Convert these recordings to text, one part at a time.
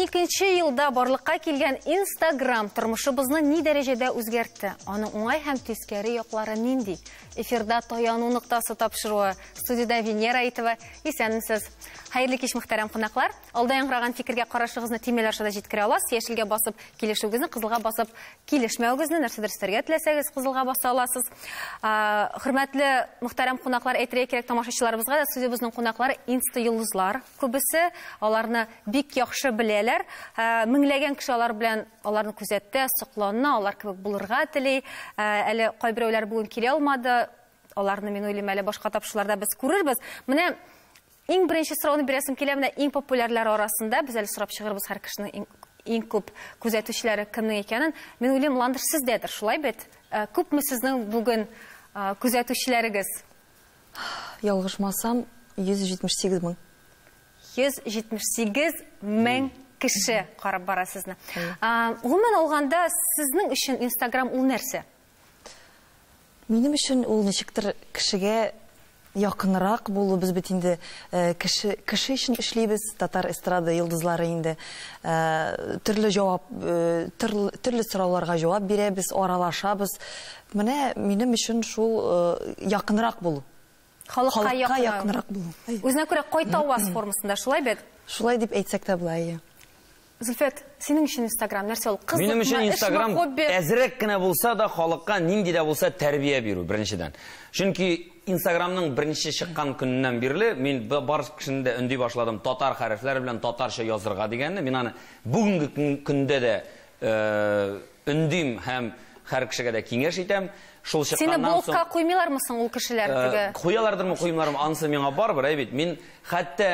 Икенче елда барлыкка килгән Instagram тормышыбызны ни дәрәҗәдә үзгәртте? Аның уңай һәм тискәре яклары нинди? Эфирда таяну ноктасы тапшыруы. Студиядә Венера Итова. Исәнмесез. Хәерле кич, мөхтәрәм кунаклар. Алда яңгыраган фикергә карашыгызны тимәләр аша да җиткерә аласыз. Яшелгә басып килешүегезне, кызылга басып килешмәвегезне, нәрсәдер өстәргә теләсәгез, кызылга баса аласыз. Хөрмәтле мөхтәрәм кунаклар, әйтергә кирәк тамашачыларыбызга да, студиябезнең кунаклары инста-йолдызлар күбесе, аларны бик яхшы беләләр. Меңләгән кеше алар белән аларны күзәтә, соклана, алар кебек булырга тели. Әле кайберәүләр бүген килә алмады. Аларны, мин уйлыйм, әле башка тапшырларда без күрербез. Менә Иң беренче сорауны бирәсем килә, менә иң популярлар арасында, без әле сорап чыгырбыз һәр кешенең иң, иң күп күзәтүчеләре кемнең икәнен. Мин уйлыйм, Ландыш сездәдер, шулай бит? Э, күпме сезнең бүген э, күзәтүчеләрегез? Ялгышмасам, 178 мең. 178 мең кеше карап бара сезне. Гомумән алганда, сезнең өчен Инстаграм ул нәрсә? Минем өчен ул ничектер кешегә якынрак булу, без бит инде кеше, кеше өчен эшлибез, татар эстрада йолдызлары инде. Төрле җавап, төрле сорауларга җавап бирәбез, аралашабыз. Менә минем өчен шул якынрак булу. Халыкка якынрак булу. Үзенә күрә кай таваз формасында, шулай бит? Шулай дип әйтсәк тә була, әйе. Зөлфәт, синең өчен инстаграм нәрсә ул? Кызыкмы, эшме, хобби? Минем өчен инстаграм әзрәк кенә булса да халыкка нинди дә булса тәрбия бирү, беренчедән. Чөнки инстаграмның беренче чыккан көненнән бирле мин бар кешене дә өнди башладым татар хәрефләре белән татарча язырга дигәнне. Мин аны бүгенге көндә дә Өндим һәм һәр кешегә дә киңәш итәм. Шул Сине чыкканнан соң... блокка куймыйлармы соң ул кешеләр Э, теге? Куялардырмы, куймыйлармы, анысы миңа барыбер, әй бит. Мин хәтта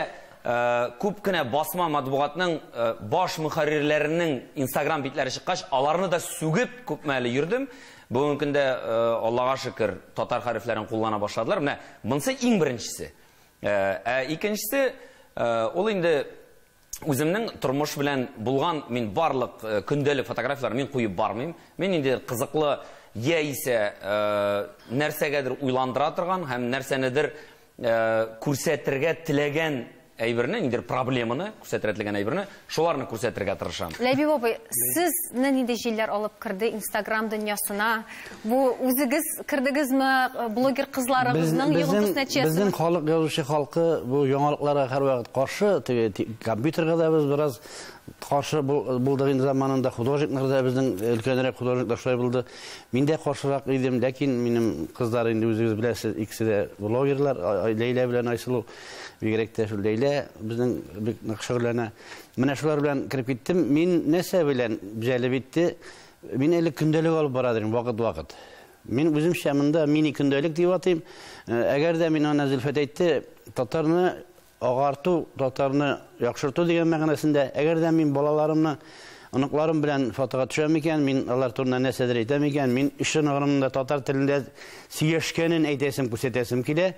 э, күп кенә басма матбугатның э, баш мөхәррирләренең инстаграм битләре чыккач, аларны да сүгеп күпме әле йөрдем. Бүгенге көндә, э, Аллага шөкер, татар хәрефләрен куллана башладылар. Менә монысы иң беренчесе. Э, Ә икенчесе, э, ул инде Үземнең тормыш белән булган мин барлык э, көндәлек фотографияләрне мин куеп бармыйм. Мин нинди кызыклы яисә э, нәрсәгәдер уйландыра торган һәм нәрсәнедер э, күрсәтергә теләгән әйберне, нидер проблеманы, күрсәтергә теләгән әйберне, шуларны күрсәтергә тырышам. Ләбиб абый, сезне нинди җилләр алып керде Инстаграм дөньясына? Бу үзегез кердегезме, э, блогер кызларыгызның йогынтысы нәтиҗәсенә? Безнең халык язучы халкы бу яңалыкларга һәрвакыт каршы, теге компьютерга да без бераз каршы булдык инде заманында, художниклар да безнең э, өлкәнрәк художниклар шулай булды. Мин дә каршырак идем, ләкин минем кызлар инде үзегез беләсез, икесе дә блогерлар, Ләйлә белән Айсылу, бигрәк тә шул Ләйлә безнең бик нык шөгыльләнә. Менә шулар белән кереп киттем. Мин нәрсә белән җәлеп итте? Мин әле көндәлек алып бара дим, вакыт-вакыт. Мин үземчә монда мини көндәлек дип атыйм. Э, әгәр дә мин аны Зөлфәт әйтте, татарны агарту, татарны яхшырту дигән мәгънәсендә, әгәр дә мин балаларымны оныкларым белән фотога төшәм икән, мин алар турында нәрсәдер әйтәм икән, мин өчен гомумында татар телендә сөйләшкәнен әйтәсем, күрсәтәсем килә.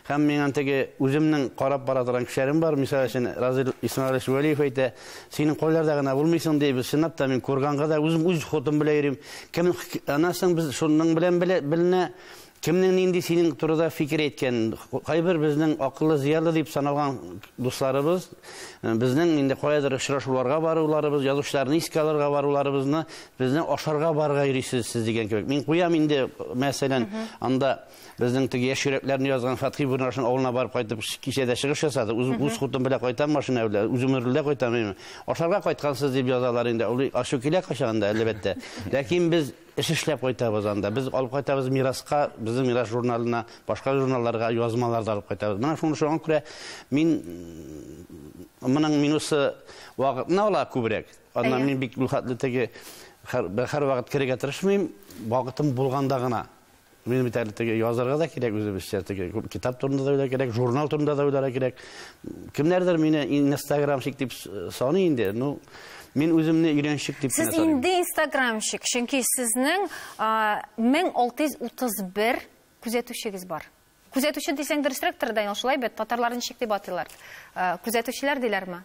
Һәм миңа теге үземнең карап бара торган кешеләрем бар, мисал өчен Разил Исмаилович Вәлиев әйтә, синең кайларда гына булмыйсың ди, без чынлап та мин курганга да үзем үз хотым белән йөрим. Кем анасың без шуның белән беленә, кемнең нинди синең турыда фикер әйткән. Кайбер безнең акыллы зыялы дип саналган дусларыбыз э, безнең инде каядыр очрашуларга баруларыбыз, язучыларны искә алырга баруларыбызны безне ашарга барырга йөрисез сез дигән кебек. Мин куям инде мәсәлән анда безнең теге яшь йөрәкләрне язган Фатхи Бурнашин авылына барып кайтып кичәдә чыгыш ясады. Үз, үз хутым белән кайтам машина белән, үзем рульдә кайтам. Ашарга кайткансыз дип язалар инде. Ул ачу килә качагында әлбәттә. Ләкин без эш эшләп кайтабыз анда. Без алып кайтабыз мираска, безнең мирас журналына, башка журналларга язмалар да алып кайтабыз. Менә шуны шуңа күрә мин моның минусы вакытны ала күбрәк. Аннан мин бик бу хәтле теге һәр вакыт керергә тырышмыйм, вакытым булганда гына. Мин бит әле теге язарга да кирәк үзебезчә, теге китап турында да уйлар кирәк, журнал турында да уйлар кирәк. Кемнәрдер мине инстаграмщик дип саный инде. Ну, мин үземне өйрәнчек дип Сез инде инстаграмщик, чөнки сезнең 1631 күзәтүчегез бар. Күзәтүче дисәң дөресрәктер, Данил, шулай бит, татарлар ничек дип атыйлар? Күзәтүчеләр диләрме?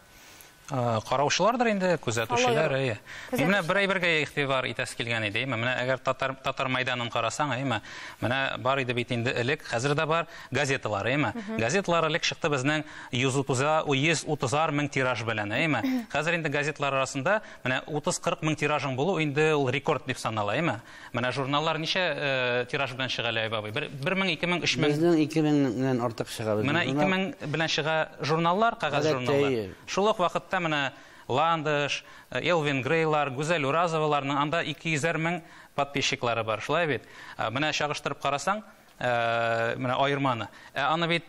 Э, караучылардыр инде күзәтүчеләр әйе мин менә бер әйбергә игътибар итәсе килгән иде әйме менә әгәр татар татар мәйданын карасаң әйме менә бар иде бит инде элек хәзер дә бар газеталар әйме газеталар элек чыкты безнең йөз утыза йөз утызар мең тираж белән әйме хәзер инде газеталар арасында менә утыз кырык мең тиражың булу инде ул рекорд дип санала әйме Менә журналлар ничә э, тираж белән чыга Ләйб абый? Бер, бер мең, ике мең, өч мең. Безнең ике меңнән артык чыга. Менә ике мең белән чыга журналлар, кәгазь журналлар. Шул ук вакытта менә Ландыш, э, Элвин Грейлар, Гүзәл Уразоваларның анда ике йөзәр мең подписчиклары бар. Шулай бит? Э, менә чагыштырып карасаң, менә аерманы. Ә аны бит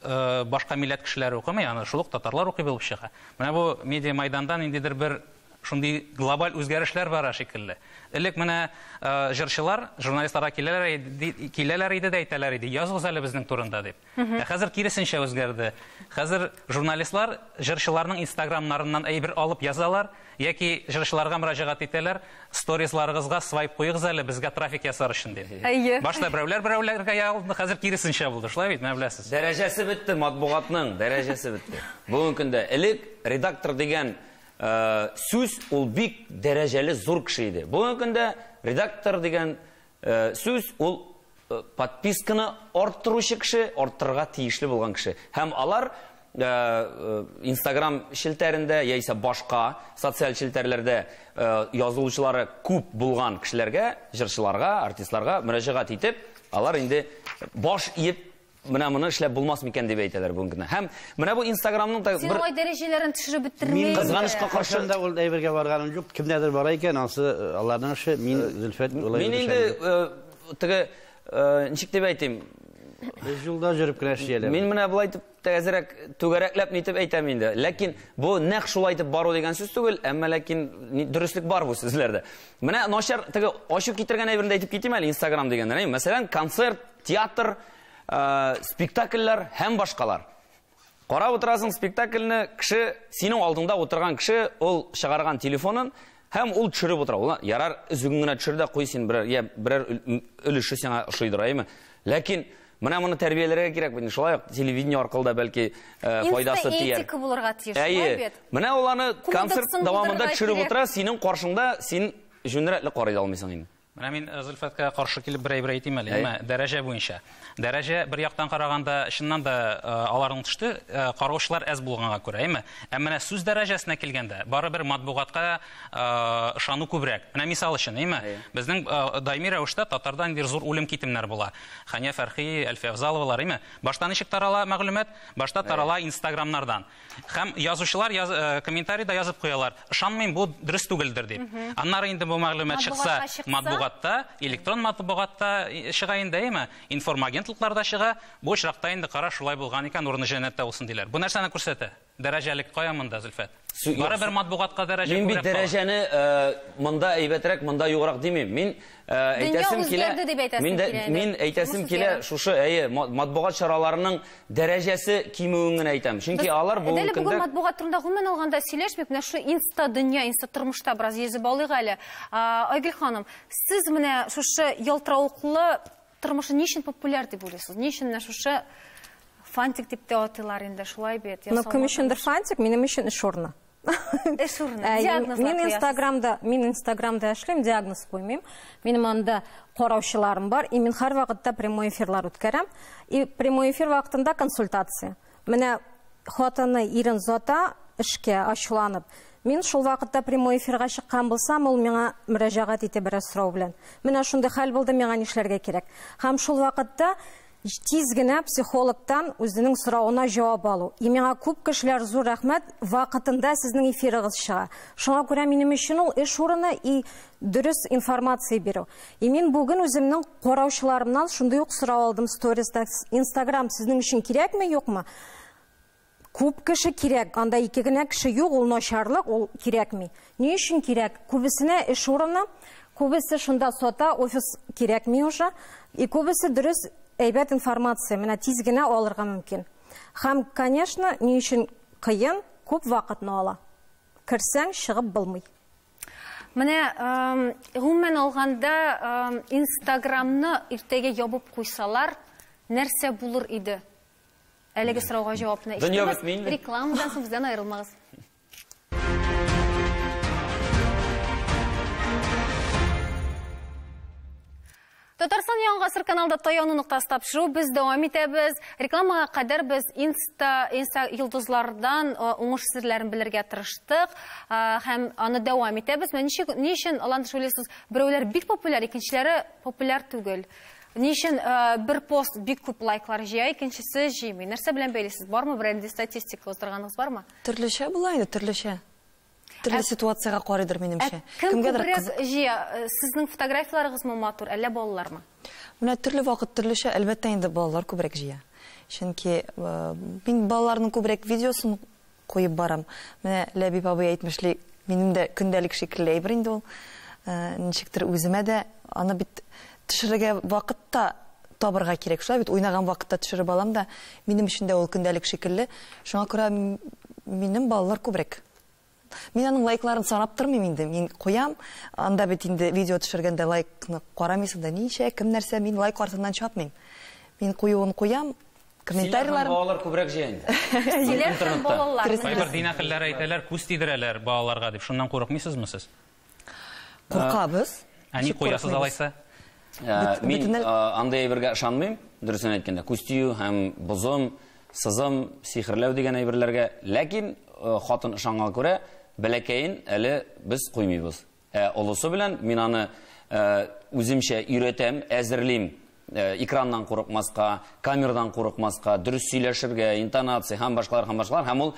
башка милләт кешеләре укымый аны, шул ук татарлар укый булып чыга. Менә бу медиамайданда ниндидер бер шундый глобаль үзгәрешләр бара шикелле. Элек менә җырчылар журналистларга киләләр иде, киләләр иде дә әйтәләр иде, языгыз әле безнең турында дип. Ә хәзер киресенчә үзгәрде. Хәзер журналистлар җырчыларның инстаграмнарыннан әйбер алып язалар, Яки җырчыларга мөрәҗәгать итәләр, сторизларыгызга свайп куегыз әле, безгә трафик ясар өчен дип. Әйе. Башта берәүләр берәүләргә ягылды, хәзер киресенчә булды, шулай бит, менә беләсез. Дәрәҗәсе бетте, матбугатның дәрәҗәсе бетте. Бүгенге көндә элек редактор дигән сүз ул бик дәрәҗәле зур кеше иде. Бүгенге көндә редактор дигән Сүз ул подписканы арттыручы кеше, арттырырга тиешле булган кеше. Һәм алар Instagram челтәрендә яисә башка социаль челтәрләрдә язылучылары күп булган кешеләргә, җырчыларга, артистларга мөрәҗәгать итеп, алар инде баш иеп Менә моны эшләп булмас микән дип әйтәләр бүген генә. Һәм менә бу Инстаграмның да Син бер алай дәрәҗәләрен төшереп бетермә. Мин кызганычка каршы Кайчан да ул әйбергә барганым юк. Кемнәрдер бара икән, ансы э, аларның эше. Мин э, Зөлфәт улай Мин инде э, теге э, ничек дип әйтим? Без юлда җөреп кенә эшләләр. Мин менә болай дип тәзрәк түгәрәкләп нитеп әйтәм инде. Ләкин бу нәкъ шулай итеп бару дигән сүз түгел, әмма ләкин дөреслек бар бу сүзләрдә. Менә начар теге ачу китергән әйберне әйтеп китим әле Instagram дигәндә. Мәсәлән, концерт Театр, спектакльләр һәм башкалар. Карап утырасың спектакльне, кеше, синең алдыңда утырган кеше, ул чыгарган телефонын һәм ул төшереп утыра. Ул ярар, үзең генә төшер дә куй син берәр, я берәр өлеше сиңа ошыйдыр, әйме? Ләкин менә моны тәрбияләргә кирәк бит. Шулай ук телевидение аркылы да бәлки файдасы тияр. Этика булырга тиеш, шулай бит. Менә ул аны концерт дәвамында төшереп утыра, синең каршыңда син җүнрәтле карый алмыйсың инде. Менә мин Зөлфәткә каршы килеп берәй бер әйтим әле, әмма дәрәҗә буенча. Дәрәҗә бер яктан караганда, чыннан да аларның төште, караучылар әз булганга күрә, әйме? Ә менә сүз дәрәҗәсенә килгәндә, бары бер матбугатка ышану күбрәк. Менә мисал өчен, әйме? Безнең даими рәвештә татарда ниндидер зур үлем китемнәр була. Хания Фәрхи, Әлфия Авзаловалар, әйме? Башта ничек тарала мәгълүмат? Башта тарала инстаграмнардан. Һәм язучылар яз, э, комментарийда язып куялар, ышанмыйм, бу дөрес түгелдер дип. Аннары инде бу мәгълүмат чыкса, Матбугатка чыкса. матбугатта, электрон матбугатта и- чыга инде, әйеме? Информагентлыкларда чыга. Бу очракта инде кара шулай булган икән, урыны җәннәттә булсын диләр. Бу нәрсәне күрсәтә? Дәрәҗәлек кая монда, Зөлфәт? Су- Барыбер матбугатка дәрәҗә Мин бит күбрәк кала. дәрәҗәне э, монда әйбәтрәк, монда юграк димим. Мин Әйтәсем килә, мин әйтәсем килә, шушы әйе, матбугат чараларының дәрәҗәсе кимүен генә әйтәм. Чөнки алар бүгенге көндә... Әле бүген матбугат турында гомумән алганда сөйләшмик, менә шушы инста дөнья, инста тормышта бераз йөзеп алыйк әле. Айгөл ханым, сез менә шушы ялтыравыклы тормышны ни өчен популяр дип уйлыйсыз? Ни өчен менә шушы фантик дип тә атыйлар инде, шулай бит? Ну, кем өчендер фантик, минем өчен эш урыны. эш урыны ә, диагноз мин инстаграмда мин инстаграмда эшлим диагноз куймыйм минем анда караучыларым бар и мин һәрвакытта прямой эфирлар үткәрәм и прямой эфир вакытында консультация менә хатыны ирен зата эшкә ачуланып Мин шул вакытта прямой эфирга чыккан булсам, ул миңа мөрәҗәгать итеп бераз сорау белән. Менә шундый хәл булды, миңа нишләргә кирәк? Һәм шул вакытта Тиз генә психологтан үзенең соравына җавап алу. И миңа күп кешеләр зур рәхмәт, вакытында сезнең эфирыгыз чыга. Шуңа күрә минем өчен ул эш урыны и дөрес информация бирү. И мин бүген үземнең караучыларымнан шундый ук сорау алдым сториста. Инстаграм сезнең өчен кирәкме, юкмы? Күп кеше кирәк, анда ике генә кеше юк, ул начарлык, ул кирәкми. Ни өчен кирәк? Күбесенә эш урыны, күбесе шунда сата, офис кирәкми уже. И күбесе дөрес, әйбәт информация, менә тиз генә алырга мөмкин. Һәм, конечно, ни өчен кыен, күп вакытны ала. Керсәң, чыгып булмый. Менә, гомумән алганда, инстаграмны иртәгә ябып куйсалар, нәрсә булыр иде? Әлеге сорауга җавапны ишетегез. Рекламадан соң бездән аерылмагыз. Татарстан яңа гасыр каналда таяну ноктасы тапшыру без дәвам итәбез. Рекламага кадәр без инста, инста йолдызлардан уңыш серләрен белергә тырыштык һәм аны дәвам итәбез. Менә ничек ни өчен алан төшүлесез? Берәүләр бик популяр, икенчеләре популяр түгел. Ни өчен бер пост бик күп лайклар җыя, икенчесе җыймый? Нәрсә белән бәйлисез? Бармы берәндәй статистика уздырганыгыз бармы? Төрлечә була инде, төрлечә. Төрле ситуациягә карыйдыр минемчә. Кем күбрәк җыя? Сезнең фотографияләрегезме матур, әллә балалармы? Менә төрле вакыт төрлечә, әлбәттә инде балалар күбрәк җыя. Чөнки мин балаларның күбрәк видеосын куеп барам. Менә Ләбиб абый әйтмешли, минем дә көндәлек шикелле әйбер инде ул. Ничектер үземә дә аны бит төшерергә вакыт та табырга кирәк. Шулай бит, уйнаган вакытта төшереп алам да, минем өчен дә ул көндәлек шикелле. Шуңа күрә минем балалар күбрәк. Мин аның лайкларын санап тормыйм инде. Мин куям, анда бит инде видео төшергәндә лайкны карамыйсың да, ничә, кем нәрсә, мин лайк артыннан чапмыйм. Мин куюын куям, Комментарийлар. Син балалар күбрәк җыя инде. Силәр һәм балалар. Кайбер дин әһелләре әйтәләр, күз тидерәләр балаларга дип. Шуннан курыкмыйсызмы сез? Куркабыз. Ә ник куясыз алайса? Мин андый әйбергә ышанмыйм, дөресен әйткәндә. Күз тию һәм бозым, сызым, сихерләү дигән әйберләргә. Ләкин хатын ышанганга күрә, бәләкәен әле без куймыйбыз. Ә олысы белән мин аны үземчә өйрәтәм, әзерлим. Экраннан курыкмаска, камердан курыкмаска, дөрес сөйләшергә, интонация һәм башкалар һәм башкалар. Һәм ул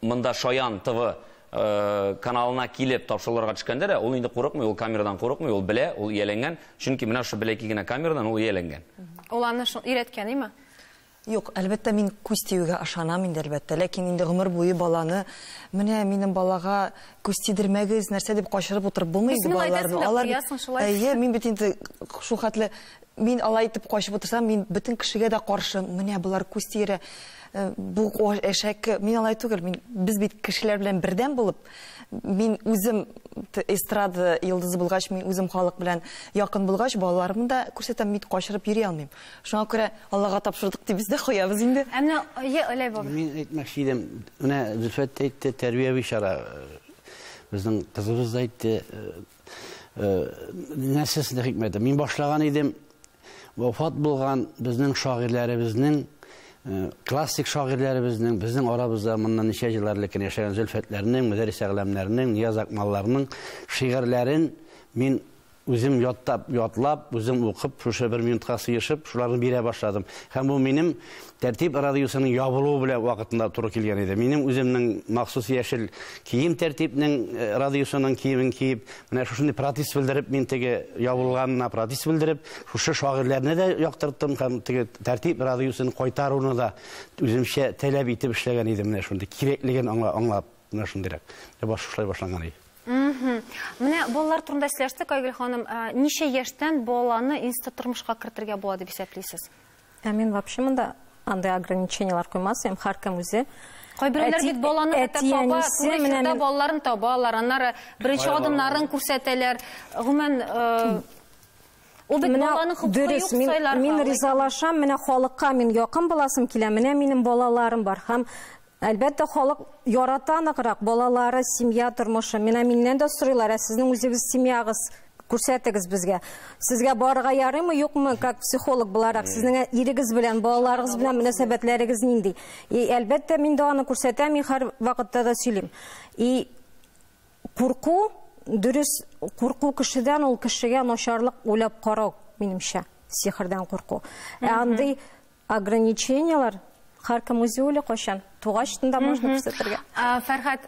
монда Шаян ТВ Э, каналына килеп тапшыруларга төшкәндә дә ул инде курыкмый, ул камерадан курыкмый, ул белә, ул ияләнгән. Чөнки менә шул бәләкәй генә камерадан ул ияләнгән. Ул аны шул өйрәткән име? Юк, әлбәттә, мин күз тиюгә ышанам инде, әлбәттә. Ләкин инде гомер буе баланы, менә минем балага күз тидермәгез, нәрсә дип качырып утырып булмый инде балаларны. Күзеңне әйтәсең дә куясың шулай. Әйе, мин бит инде шул хәтле, мин алай итеп качып утырсам, мин бөтен кешегә дә каршы, менә болар күз тиерә, бу әшәке. Мин алай түгел, мин, без бит кешеләр белән бердәм булып, мин үзем эстрада йолдызы булгач, мин үзем халык белән якын булгач, балаларымны да күрсәтәм, мин качырып йөри алмыйм. Шуңа күрә Аллага тапшырдык дип без дә куябыз инде. Ә менә ие Оләй бабай. Мин әйтмәкче идем, менә Зөлфәт тә әйтте, тәрбияви чара. Безнең кызыбыз да әйтте. Нәрсәсендә хикмәте? Мин башлаган идем, вафат булган безнең шагыйрьләребезнең, классик шагыйрьләребезнең, безнең арабызда моннан ничә еллар элек кенә яшәгән Зөлфәтләрнең, Мөдәррис Әгъләмнәрнең, Нияз Акмалларның шигырьләрен мин Үзем яттап, ятлап, үзем укып, шушы бер минутка сыешып, шуларны бирә башладым. Һәм бу минем Тәртип радиосының ябылуы белән вакытында туры килгән иде. Минем үземнең махсус яшел кием Тәртипнең э, радиосының киемен киеп, менә шушындый протест белдереп, мин теге ябылганына протест белдереп, шушы шагыйрьләрне дә яктырттым һәм теге Тәртип радиосын кайтаруны да үземчә таләп итеп эшләгән идем менә шундый кирәклеген аңлап. Менә шундыйрак. Ә шулай башланган ди. Менә балалар турында сөйләштек, Айгөл ханым. Ничә яшьтән баланы институт тормышка кертергә була дип исәплисез? Ә мин вообще монда андай ограниченияләр куймас идем. Һәркем үзе Кайберләр бит баланы әтә таба, туры чирдә балаларын табалар, аннары беренче адымнарын күрсәтәләр. Гомумән, Ул бит баланың хокукы юк сайларга. Мин ризалашам, менә халыкка мин якын буласым килә, менә минем балаларым бар һәм Әлбәттә, халык ярата ныграк балалары, семья тормышы. Менә миннән дә сорыйлар, ә сезнең үзегез семьягыз күрсәтегез безгә. Сезгә барырга ярыймы, юкмы, как психолог буларак, сезнең ирегез белән, балаларыгыз белән мөнәсәбәтләрегез нинди? И әлбәттә, мин дә аны күрсәтәм, мин һәр вакытта да сөйлим. И Курку, дөрес, курку кешедән, ул кешегә начарлык уйлап карау, минемчә, сихердән курку. Ә андый ограниченияләр һәркем үзе уйлый кайчан тугач да можно күрсәтергә. Фәрхәт,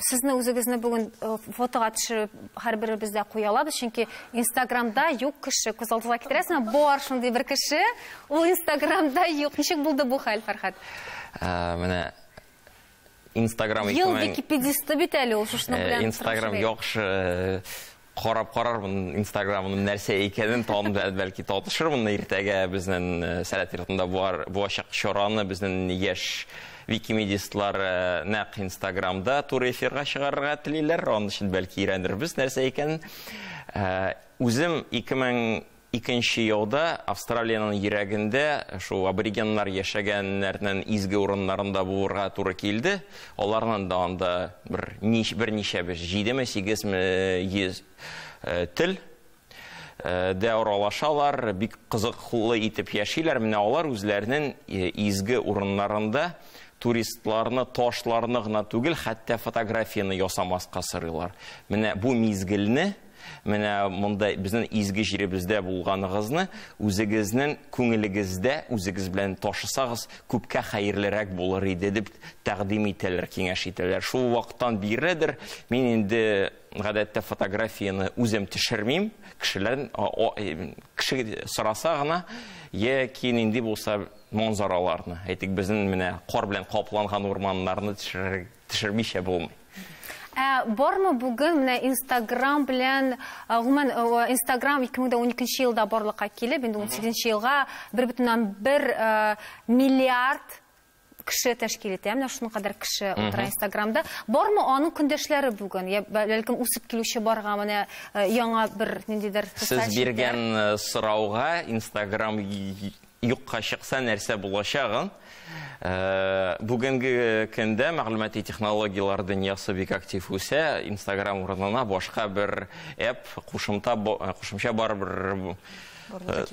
сезне үзегезне бүген фотога төшереп һәрберебез дә куя алабыз, чөнки Инстаграмда юк кеше, күз алдыгызга китерәсезме? Бар шундый бер кеше, ул Инстаграмда юк. Ничек булды бу хәл, Фәрхәт? Менә Инстаграм Ел исемен... википедисты бит әле ул, шушының э, белән Инстаграм яхшы э, карап карармын инстаграмның нәрсә икәнен тан бәлки татышырмын иртәгә безнең э, сәләт йортында булачак чараны безнең яшь викимедистлар нәкъ инстаграмда туры эфирга чыгарырга телиләр аның өчен бәлки өйрәнербез нәрсә икәнен үзем 2000 Икенче яуда, Австралиянең йөрәгендә, шул аборигеннар яшәгәннәрнен изге урыннарында булырга туры килде. Аларнын да анда бер нич, берничә без җидеме, сигезме йөз тел дә аралашалар, бик кызыклы итеп яшиләр. Менә алар үзләренен изге урыннарында туристларны, ташларны гына түгел, хәтта фотографияне ясамаска сорыйлар. Менә бу мизгелне Менә монда безнең изге җиребездә булганыгызны үзегезнең күңелегездә үзегез белән ташысагыз, күпкә хәерлерәк булыр иде дип тәкъдим итәләр, киңәш итәләр. Шул вакыттан биреләдер, мин инде гадәттә фотографияне үзем төшермим, кешеләр кеше сораса гына яки нинди булса манзараларны, әйтик, безнең менә кар белән капланган урманнарны төшерергә Төшермичә булмый. Ә бармы бүген менә Инстаграм белән, гомумән, Инстаграм 2012 елда барлыкка килеп, инде 18 елга 1,1 миллиард кеше тәшкил итә. Менә шуның кадәр кеше утыра Инстаграмда. Бармы аның көндәшләре бүген? Я бәлкем үсеп килүче барга менә яңа бер ниндидер Сез биргән сорауга Инстаграм Юкка чыкса нәрсә булачагын бүгенге көндә мәгълүмати технологияләр дөньясы бик актив үсә, инстаграм урынына башка бер эп, кушымта, кушымча барыбер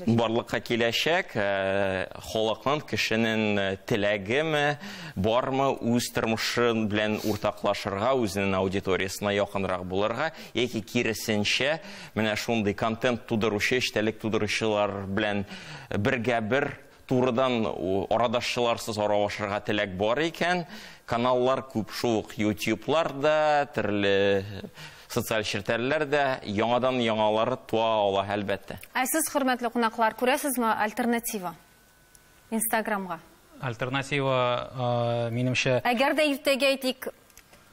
барлыкка киләчәк, халыкның, кешенең теләгеме, бармы үз тормышы белән уртаклашырга, үзенең аудиториясенә якынрак булырга яки киресенчә, Менә шундый контент тудыручы, эчтәлек тудыручылар белән бергә-бер турыдан арадашчыларсыз аралашырга теләк бар икән, каналлар күп, шул ук ютьюблар да, төрле социаль челтәрләр дә яңадан яңалары туа ала, әлбәттә. Ә сез, хөрмәтле кунаклар, күрәсезме альтернатива? Инстаграмга. Альтернатива, минемчә... Әгәр дә иртәгә әйтик,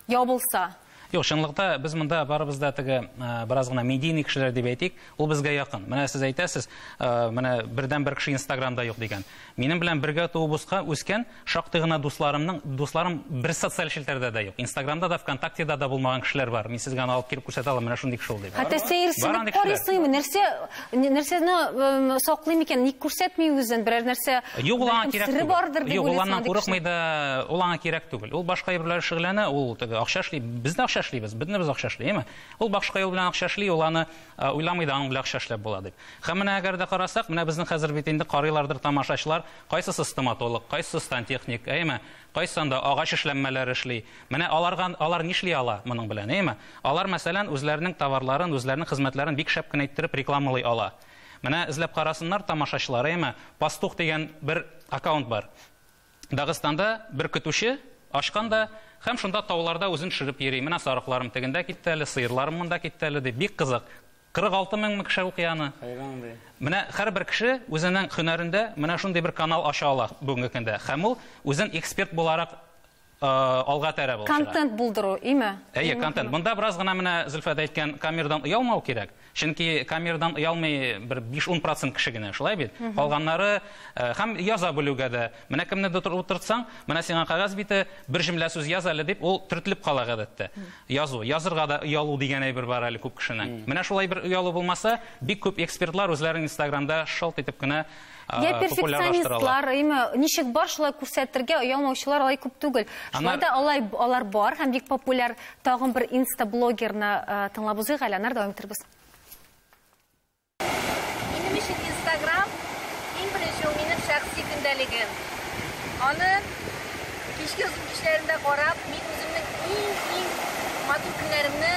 ябылса. Юк, чынлыкта без монда барыбыз да теге бераз гына медийный кешеләр дип әйтик, ул безгә якын. Менә сез әйтәсез, менә бердәнбер кеше Инстаграмда юк дигән. Минем белән бергә туып үскән шактый гына дусларымның, дусларым бер социаль челтәрдә дә юк. Инстаграмда да, ВКонтактеда да булмаган кешеләр бар. Мин сезгә аны алып килеп күрсәтә алам, менә шундый кеше ул дип. Хәтта сәерсенеп карыйсыңмы, нәрсә Нәрсәне саклый микән? Ник күрсәтми үзен? Берәр нәрсә Юк, ул аңа кирәк түгел. бардыр дип Юк, ул аннан курыкмый да, ул аңа кирәк түгел. Ул башка юл белән шөгыльләнә, ул теге акча эшли. Без дә акча эшлибез, бөтен без акча эшли, әйме? Ул башка юл белән акча эшли, ул аны уйламый да, аның белән акча эшләп була дип. Һәм менә әгәр дә карасак, менә безнең хәзер бит инде карыйлардыр тамашачылар, кайсысы стоматолог, кайсысы сантехник, әйме? Кайсында агач эшләнмәләр эшли. Менә аларга алар нишли ала моның белән, әйме? Алар, мәсәлән, үзләренең товарларын, үзләренең хезмәтләрен бик шәп кенә иттереп рекламалый ала. Менә эзләп карасыннар тамашачылар, әйеме? Пастух дигән бер аккаунт бар. Дагыстанда бер көтүче ачкан да һәм шунда тауларда үзен төшереп йөри, менә сарыкларым тегендә китте әле, сыерларым монда китте әле, дип. Бик кызык. 46 меңме кеше укый аны. Хайран ди. Менә һәрбер кеше үзенең һөнәрендә менә шундый бер канал ача ала бүгенге көндә. Һәм ул үзен эксперт буларак алга тәрәп ул. Контент булдыру, име? Әйе, контент. Монда бераз гына менә Зөлфәт әйткән камердан оялмау кирәк. Чөнки камердан оялмый бер 5-10% кеше генә, шулай бит? Калганнары һәм яза белүгә дә. Менә кемне дә утыртсаң, менә сиңа кагаз бите, бер җөмлә сүз яз әле дип, ул төртелеп кала гадәттә. Язу, язырга да оялу дигән әйбер бар әле күп кешенең. Менә шулай бер оялу булмаса, бик күп экспертлар үзләрен Инстаграмда шалт итеп кенә Я перфекционистлар, әйме, ничек бар, шулай күрсәтергә оялмаучылар алай күп түгел. Шулай да алай алар бар һәм бик популяр тагын бер инста блогерны тыңлап узыйк әле, аннары дәвам итәрбез. Минем өчен Instagram иң беренче ул минем шәхси көндәлегем. Аны кичке озын кичләрендә карап, мин үземнең иң-иң матур көннәремне,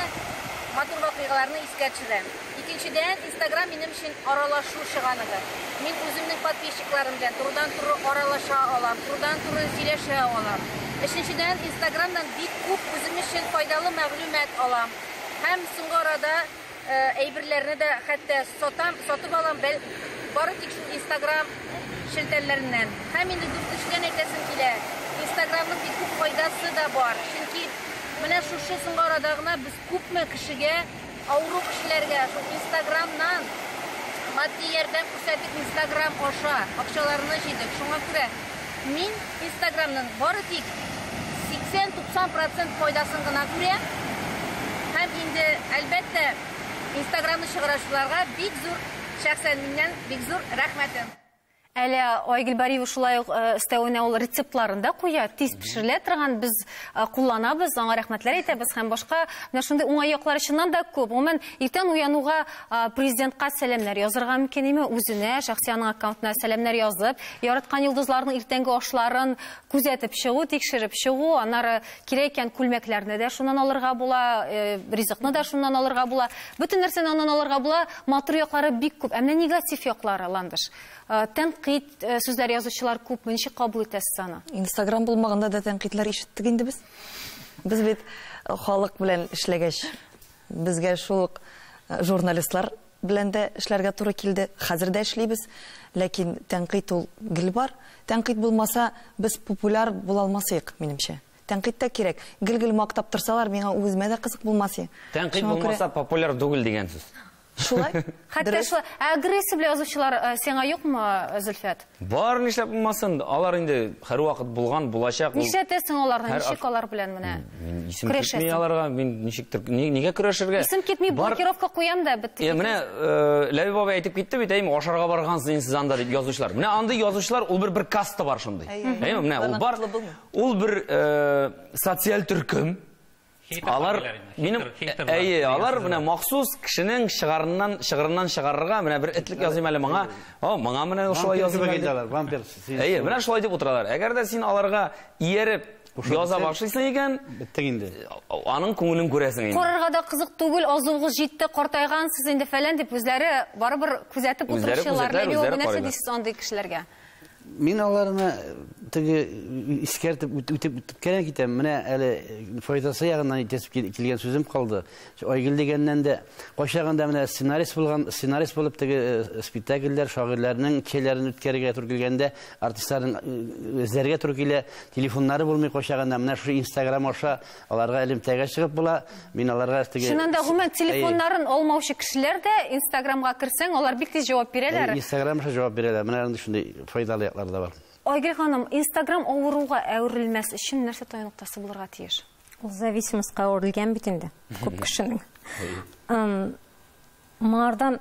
матур вакыйгаларны искә төшерәм. Икенчедән, Инстаграм минем өчен аралашу чыганагы. Мин үземнең подписчикларым белән турыдан-туры аралаша алам, турыдан-туры сөйләшә алам. Өченчедән, Инстаграмнан бик күп үзем өчен файдалы мәгълүмат алам. Һәм соңгы арада әйберләрне дә хәтта сатам, сатып алам, бәл, бары тик шул Инстаграм шелтәлләреннән. Һәм инде дүртенчедән әйтәсем килә, Инстаграмның бик күп файдасы да бар, чөнки менә шушы соңгы арада гына без күпме кешегә Авыру кешеләргә шул инстаграмнан матди ярдәм күрсәтик, инстаграм аша акчаларны җыйдык. Шуңа күрә мин инстаграмның бары тик 80-90 процент файдасын гына күрәм. Һәм инде, әлбәттә, инстаграмны чыгаручыларга бик зур, шәхсән миннән бик зур рәхмәтем. Әле Айгөл Бариева шулай ук өстәвенә ул рецептларын да куя, тиз пешерелә торган, без кулланабыз, аңа рәхмәтләр әйтәбез һәм башка менә шундый уңай яклары чыннан да күп. Гомумән, иртән уянуга президентка сәламнәр язырга мөмкин име, үзенә, шәхси аның аккаунтына сәламнәр язып, яраткан йолдызларның иртәнге ашларын Күзәтеп чыгу, тикшереп чыгу, аннары кирәк икән күлмәкләрне дә шуннан алырга була, э, ризыкны да шуннан алырга була. Бөтен нәрсәне аннан алырга була. Матур яклары бик күп. Ә менә негатив яклары, Ландыш. Э, тәнкыйть э, сүзләр язучылар күпме? Ничек кабул итәсез аны? Инстаграм булмаганда да тәнкыйтьләр ишеттек инде без. Без бит э, халык белән эшләгәч, безгә шул ук э, журналистлар белән дә эшләргә туры килде, хәзер дә эшлибез, ләкин тәнкыйть ул гел бар. Тәнкыйть булмаса, без популяр була алмасыек, минемчә. Тәнкыйть тә кирәк. Гел-гел мактап торсалар, миңа үземә дә кызык булмас и. Тәнкыйть булмаса, популяр түгел дигән сүз. Шулай. Хәтта шулай. Ә агрессия белән язучылар сиңа юкмы, Зөлфәт? Бар, нишләп булмасын? Алар инде һәрвакыт булган, булачак. ул- Нишләтәсең аларны? Һәр Ничек ак- алар белән менә? Мин исем китми Көрәшәсең. аларга, мин ничектер ни- нигә көрәшергә? Исем китми, Бар- блокировка куям да бетте. Е, менә э, Ләбиб абый әйтеп китте бит, әйме, ашарга баргансыз инде сез анда дип язучылар. Менә андый язучылар, ул бер бер каста бар шундый. Әйе. Әйме, менә ул бар. Барнакытлы булмый. Ул бер э, социаль төркем. Алар минем әйе, алар менә махсус кешенең шыгарыннан, шыгырыннан чыгарырга менә бер этлек языйм әле моңа. О, моңа менә шулай языйм әле. Вампир. Әйе, менә шулай дип утыралар. Әгәр дә син аларга ияреп яза башлыйсың икән, биттең инде. Аның күңелен күрәсең инде. Карарга да кызык түгел, азуыгыз җитте, картайгансыз инде фәлән дип үзләре барыбер күзәтеп утыручылар. Нәрсә дисез андый кешеләргә? Мин аларны теге искәртеп үтеп үткән китәм. Менә әле файдасы ягыннан итәсеп килгән сүзем калды. Айгөл дигәннән дә кайчагында менә сценарист булган, сценарист булып теге э, спектакльләр, шагыйрьләрнең челләрен үткәрергә туры килгәндә, артистларның э, эзләргә туры килә, телефоннары булмый кайчагында менә шушы Инстаграм аша Аларга элемтәгә чыгып була. Мин аларга теге Чыннан да гомумән телефоннарын алмаучы кешеләр дә Инстаграмга керсәң, алар бик тиз җавап бирәләр. Инстаграм аша җавап бирәләр. Менә андый шундый файдалы яклары да бар. Айгөл ханым, Инстаграм авыруга әверелмәс өчен нәрсә тая ноктасы булырга тиеш? Ул зависимостька әверелгән бит инде күп кешенең. Моңардан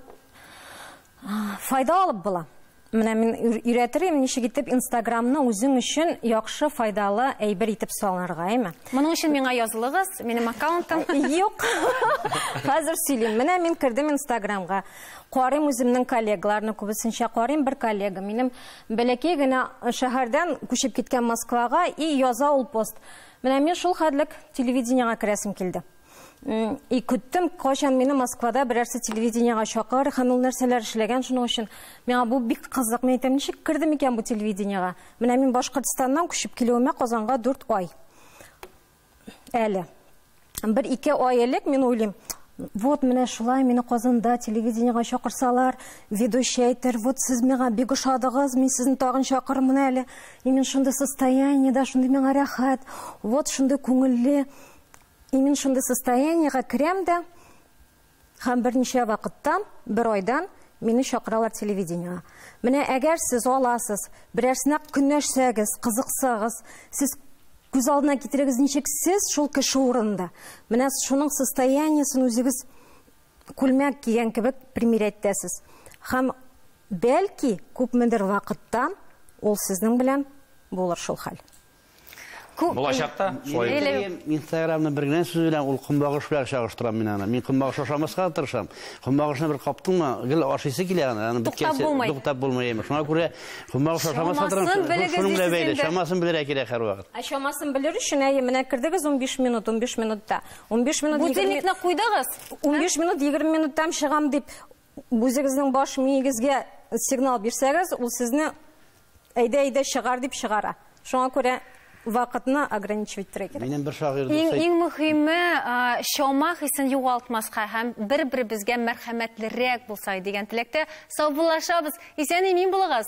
файда алып була. Менә мин өйрәтер идем, ничек итеп Инстаграмны үзең өчен яхшы, файдалы әйбер итеп салынырга, әйме? Моның өчен миңа язылыгыз, минем аккаунтым. Юк. Хәзер сөйлим. Менә мин кердем Инстаграмга. Карыйм үземнең коллегаларны күбесенчә карыйм. Бер коллега минем бәләкәй генә шәһәрдән күчеп киткән Москвага и яза ул пост. Менә мин шул хәтлек телевидениегә керәсем килде. И көттем, кайчан мине Москвада берәрсе телевидениега чакыр һәм ул нәрсәләр эшләгән шуның өчен. Миңа бу бик кызык, мин әйтәм, ничек керде микән бу телевидениега? Менә мин Башкортстаннан күчеп килүемә Казанга 4 ай. Әле. Бер ике ай элек мин уйлыйм, вот менә шулай мине Казанда телевидениега чакырсалар, ведущий әйтер, вот сез миңа бик ошадыгыз, мин сезне тагын чакырмын әле. И мин шундый состояниедә, шундый миңа рәхәт, вот шундый күңелле. И мин шундый состояниегә керәм дә, һәм берничә вакыттан, бер айдан мине чакыралар телевидениегә. Менә әгәр сез аласыз, берәрсенә көнләшсәгез, кызыксагыз, сез күз алдына китерегез, ничек сез шул кеше урынында. Менә шуның состояниесен үзегез күлмәк кигән кебек примерять итәсез. Һәм бәлки күпмедер вакыттан ул сезнең белән булыр шул хәл. Булачакта шулай. Телеграм, Инстаграмны бер генә сүз белән ул көнбагыш белән чагыштырам мин аны. Мин көнбагыш ашамаска тырышам. Көнбагышны бер каптыңмы, гел ашыйсы килә аны. Аны беткәнче туктап булмый. Шуңа күрә көнбагыш ашамаска тырышам. Шуның белән бәйле, чамасын белергә кирәк һәрвакыт. Ә чамасын белер өчен, әйе, менә кердегез 15 минут, 15 минутта. 15 минут. Будильникны куйдыгыз? 15 минут, 20 минуттан чыгам дип. Үзегезнең баш миегезгә сигнал бирсәгез, ул сезне әйдә-әйдә чыгар дип чыгара. Шуңа күрә вакытны ограничивать итәргә кирәк. Минем бер шагыйрь дус. Иң иң мөһиме, чама хисен югалтмаска һәм бер-беребезгә мәрхәмәтлерәк булсак дигән теләктә саубуллашабыз. Исән-имин булыгыз!